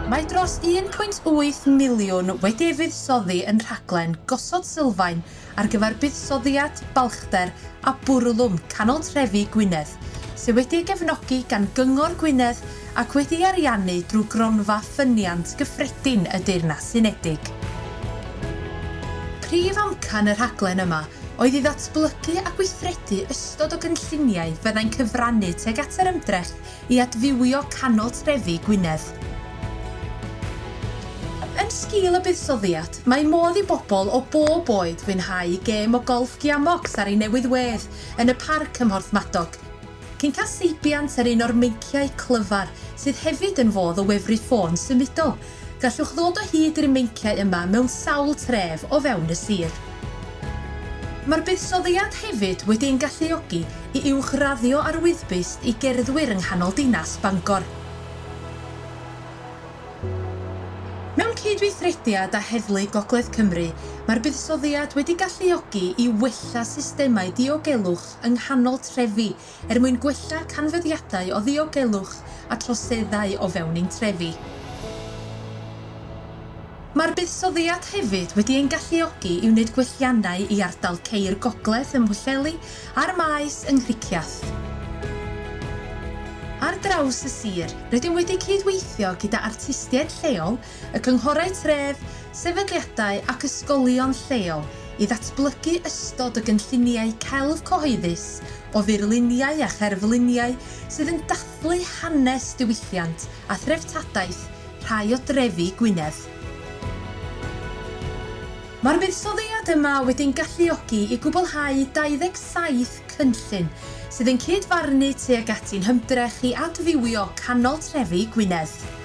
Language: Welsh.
Mae dros 1.8 miliwn wedi ei fuddsoddi yn rhaglen Gosod Sylfaen ar gyfer Buddsoddiad, Balchder a Bwrlwm Canol Trefi Gwynedd, sydd wedi ei gefnogi gan Gyngor Gwynedd ac wedi ei ariannu drwy Gronfa Ffyniant Gyffredin y Deyrnas Unedig. Prif amcan y rhaglen yma oedd i ddatblygu a gweithredu ystod o gynlluniau fyddai'n cyfrannu tuag at yr ymdrech i adfywio canol trefi Gwynedd. Yn sgil y buddsoddiad, mae modd i bobl o bob oed fwynhau gêm o golff Giamox ar ei newydd wedd yn y parc ym Mhorthmadog, cyn cael seibiant ar un o'r meinciau clyfar sydd hefyd yn fodd o wefru ffôn symudol Gallwch ddod o hyd i'r meinciau yma mewn sawl tref o fewn y sir. Mae'r buddsoddiad hefyd wedi ein galluogi i uwchraddio ar wyddbyst i gerddwyr yng nghanol dinas Bangor. Mewn cydweithrediad â Heddlu Gogledd Cymru, mae'r buddsoddiad wedi galluogi i wella systemau diogelwch yng nghanol trefi er mwyn gwella canfyddiadau o ddiogelwch a troseddau o fewn ein trefi. Mae'r buddsoddiad hefyd wedi ein galluogi i wneud gwelliannau i ardal ceir gogledd ym Mhwllheli a'r Maes yng Nghricieth. Ar draws y sir, rydym wedi cyd-weithio gyda artistiaid lleol y cynghorau tref, sefydliadau ac ysgolion lleol i ddatblygu ystod o gynlluniau celf cyhoeddus o furluniau a cherfluniau sydd yn dathlu hanes diwylliant a threftadaeth rhai o drefi Gwynedd. Mae'r buddsoddiad yma wedi'n galluogi i gwblhau 27 cynllun sydd yn cyd-farnu tuag ati'n hymdrech i adfywio canol trefi Gwynedd.